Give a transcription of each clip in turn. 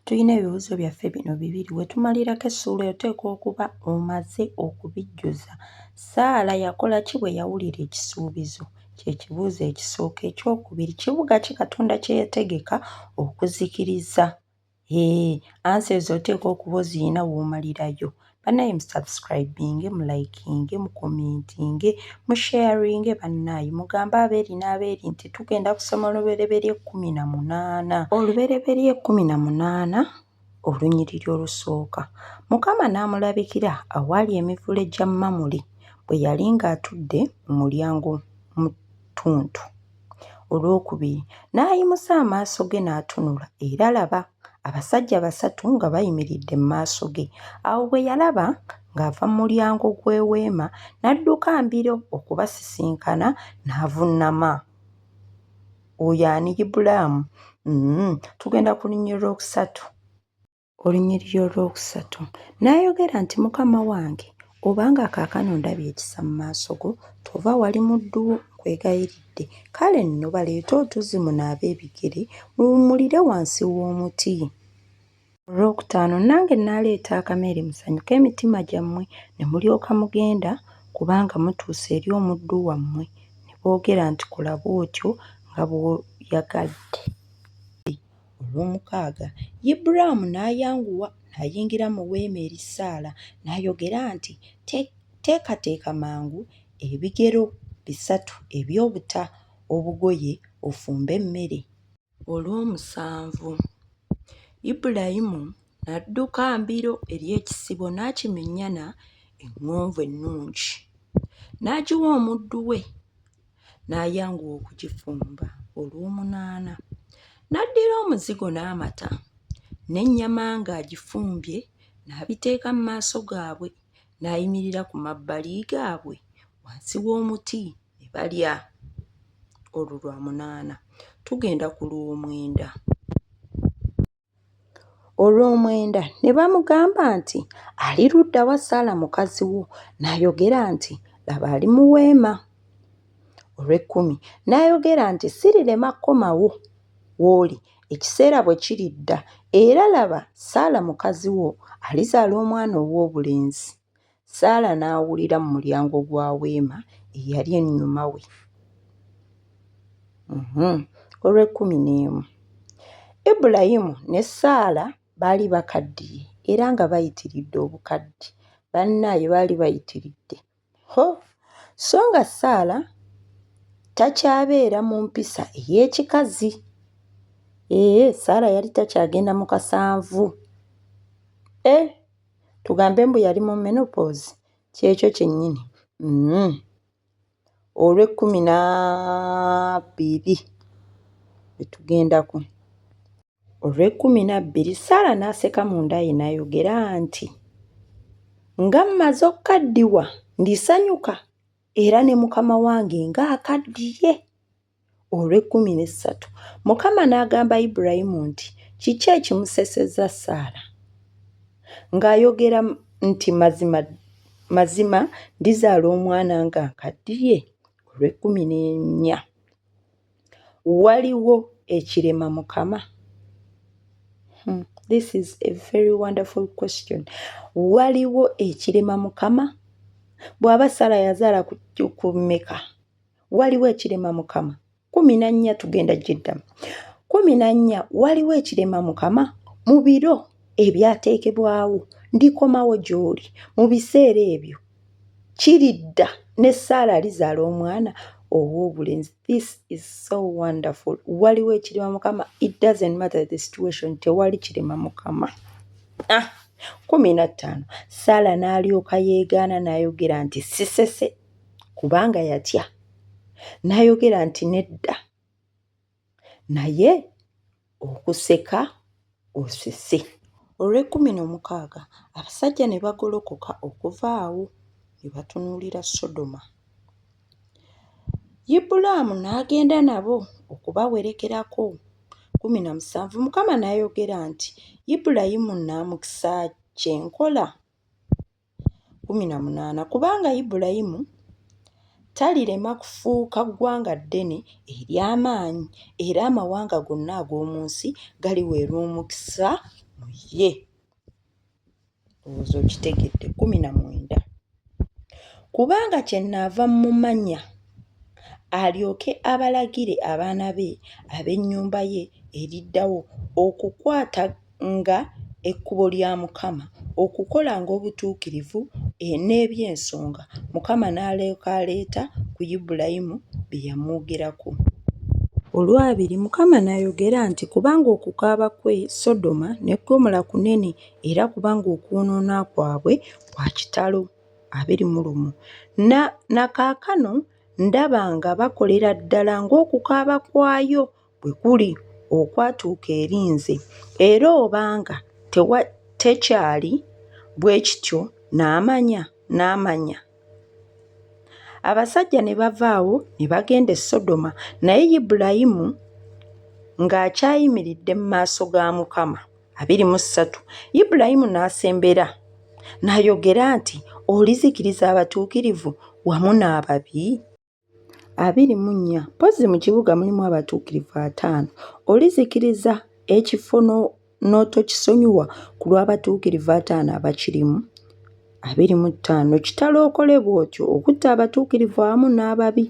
Tulina ebibuuzo byaffe bino bibiri. We tumalirako essuula oteekwa okuba omaze okubijjuza. Saala yakola ki bwe yawulira ekisuubizo? Kye kibuuzo ekisooka. Eky'okubiri, kibuga ki Katonda kye yategeka okuzikiriza? Hee, ansa ezo oteekwa okuba ozirina w'omalirayo. banaye musubscribinge mulikinge mukomentinge musharinge banaye mugambe abeeri n'abeeri nti tugenda kusoma olubereberye ekkumi na munaana olubereberye ekkumi na munaana olunyiriri olusooka mukama n'amulabikira awaali emivule gya mamule bwe yali ng'atudde mu mulyango mu ttuntu Olw'okubiri n'ayimusa amaaso ge n'atunula, era laba! abasajja basatu nga bayimiridde mu maaso ge. Awo bwe yalaba ng'ava mu mulyango gw'eweema, n'adduka mbiro okubasisinkana n'avunnama. Oyo ani Ibulaamu? Mm, tugenda kulinnyirira okusatu. Olunyiriri olwokusatu n'ayogera nti, Mukama wange, obanga kaakano ndabye ekisa mu maaso go, tova wali muddu wo, nkwegayiridde, kale nno baleete otuzzi munaabe ebigere, muwummulire wansi w'omuti. Olwokutaano nange nnaaleeta akameere musanyuke emitima gyammwe, ne mulyoka mugenda, kubanga mutuuse eri omuddu wammwe. Ne boogera nti, Kola bw'otyo nga bw'oyagadde. Olw'omukaaga, Ibulaamu n'ayanguwa n'ayingira mu weema eri Saala, n'ayogera nti, Teekateeka mangu ebigero bisatu eby'obuta obugoye ofumbe emmere. Olw'omusanvu, Ibulayimu n'adduka mbiro eri ekisibo n'akimenyana eŋŋonvu ennungi, n'agiwa omuddu we. n'ayanguwa okugifumba olw'omunaana n'addira omuzigo n'amata n'ennyama ng'agifumbye n'abiteeka mu maaso gaabwe n'ayimirira ku mabbali gaabwe wansi w'omuti ne balya olwo lwa munaana tugenda ku lw'omwenda Olw'omwenda ne bamugamba nti, Ali ludda wa Saala mukazi wo? N'ayogera nti, Laba ali mu weema. Olw'ekkumi n'ayogera nti, Sirirema kukomawo w'oli ekiseera bwe kiridda, era laba Saala mukazi wo alizaala omwana ow'obulenzi. Saala n'awulira mu mulyango gwa weema eyali ennyuma we. Mhm. Olw'ekkumi n'emu. Ibulayimu ne Saala baali bakaddiye era nga bayitiridde obukadde. Bannaaye baali bayitiridde. Ho! So nga Saala takyabeera mu mpisa ey'ekikazi. Ee, Saala yali takyagenda mu kasanvu. E! tugambe mbu yali mu menopause kyekyo kyennyini mm. olw'ekkumi na bbiri etugendako olw'ekkumi na bbiri saala n'aseka munda ye n'ayogera nti nga mmaze okukaddiwa ndisanyuka era ne mukama wange ng'akaddiye olw'ekkumi n'essatu. Mukama n'agamba Ibulayimu nti, Kiki ekimusesezza Saala? Ng'ayogera nti, Mazima, mazima ndizaala omwana nga nkaddiye, olw'ekkumi n'ennya. Waliwo ekirema Mukama? Hmm, this is a very wonderful question. Waliwo ekirema Mukama? Bw'aba Saala yazaala ku mmeka? waliwo ekirema mukama kumi na nnya tugenda gyeddamu kumi na nnya waliwo ekirema mukama mu biro ebyateekebwawo ndikomawo gy'oli mu biseera ebyo kiridda ne saala alizaala omwana ow'obulenzi this is so wonderful waliwo ekirema mukama it doesn't matter the situation tewali kirema mukama ah, kumi na ttaano saala n'alyoka yeegaana n'ayogera nti sisese kubanga yatya n'ayogera nti nedda naye okuseka osese olw'ekkumi n'omukaaga abasajja ne bagolokoka okuva awo ne batunuulira sodoma ibulaamu n'agenda nabo okubawerekerako kkumi na musanvu mukama n'ayogera nti ibulayimu nnaamukisa kye nkola kkumi na munaana kubanga Ibulayimu talirema kufuuka ggwanga ddene ery'amaanyi, era amawanga gonna ag'omu nsi galiweerwa omukisa mu ye. Olowooza okitegedde? kkumi na mwenda kubanga kyennaava mmumanya alyoke abalagire abaana be ab'ennyumba ye eriddawo okukwata nga ekkubo lya Mukama, okukolanga obutuukirivu, n'eby'ensonga Mukama n'alyoka aleeta ku Ibulayimu bye yamwogerako. Olwabiri, Mukama n'ayogera nti, Kubanga okukaaba kw'e Sodoma ne Ggomola kunene, era kubanga okwonoona kwabwe kwa kitalo. abiri mu lumu Na, na kaakano ndaba nga bakolera ddala ng'okukaaba kwayo bwe kuli okwatuuka eri nze, era obanga tewa, tekyali bwe kityo, n'amanya, n'amanya. Abasajja ne bava awo ne bagenda e Sodoma, naye Ibulayimu nga akyayimiridde mu maaso ga Mukama. abiri mu ssatu Ibulayimu n'asembera n'ayogera nti, Olizikiriza abatuukirivu wamu n'ababi? abiri mu nnya mpozzi mu kibuga mulimu abatuukirivu ataano olizikiriza ekifo n'otokisonyiwa ku lw'abatuukirivu ataano abakirimu abiri mu ttaano kitalo okole bw'otyo okutta abatuukirivu awamu n'ababi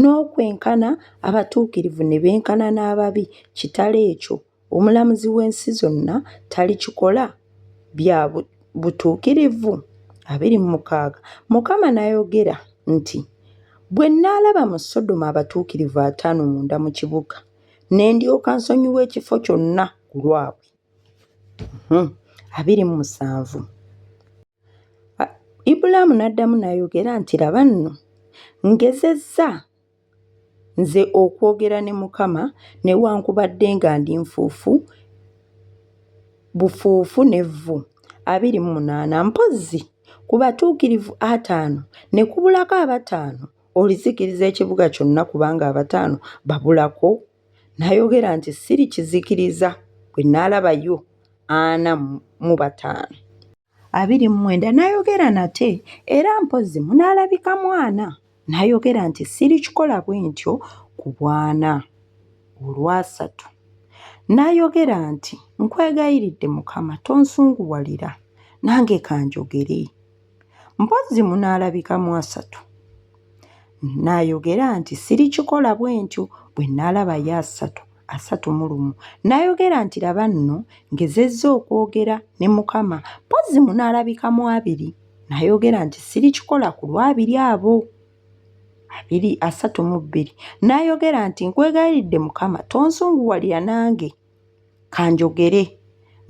n'okwenkana abatuukirivu ne benkana n'ababi kitalo ekyo Omulamuzi w'ensi zonna talikikola? Bya butuukirivu abiri mu mukaaga Mukama n'ayogera nti, Bwe nnaalaba mu Sodoma abatuukirivu ataano munda mu kibuga, ne ndyoka nsonyiwa ekifo kyonna ku lwabwe. Hmm, abiri mu musanvu Ibulaamu n'addamu n'ayogera nti, Laba nno, ngezezza Nze okwogera ne Mukama, newankubadde nga ndi nfuufu bufuufu n'evvu. Abiri mu munaana, mpozzi ku batuukirivu ataano ne kubulako abataano, olizikiriza ekibuga kyonna kubanga abataano babulako? Nayogera nti sirikizikiriza bwe naalabayo ana mu bataano. abiri mu mwenda n'ayogera nate era mpozzi munaalabika mwana n'ayogera nti sirikikola bwe ntyo ku bwana olwasatu n'ayogera nti nkwegayiridde mukama tonsunguwalira nange kanjogere mpozzi munaalabika mu asatu n'ayogera nti sirikikola bwe ntyo bwe nnaalaba ye asatu asatu mu lumu n'ayogera nti laba nno ngezezza okwogera ne mukama mpozzi munaalabika mu abiri n'ayogera nti sirikikola ku lwabiri abo abiri asatu mu bbiri n'ayogera nti nkwegayiridde mukama tonsunguwalira nange kanjogere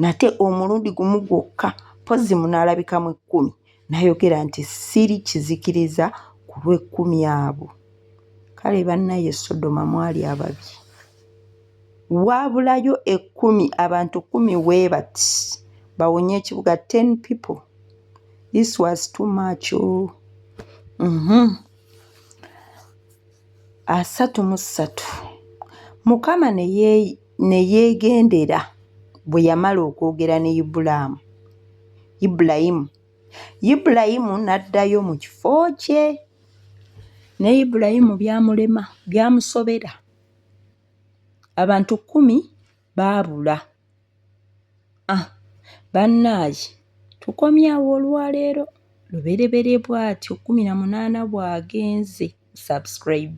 nate omulundi gumu gwokka mpozzi munaalabikamu ekkumi nayogera nti siri kizikiriza ku lw'ekkumi abo kale bannaye sodoma mwali ababi waabulayo ekkumi abantu kkumi weebati bawonye ekibuga ten people this was too much oh. mm -hmm. asatu mu ssatu mukama ne Ne yeegendera. Bwe yamala okwogera ne Ibulaamu, Ibulayimu, Ibulayimu n'addayo mu kifo kye. Ne Ibulayimu byamulema, byamusobera. Abantu kkumi baabula. Ah, bannaaye tukomyawo olwaleero lubereberye bwatyo kkumi na munaana bw'agenze subscribe.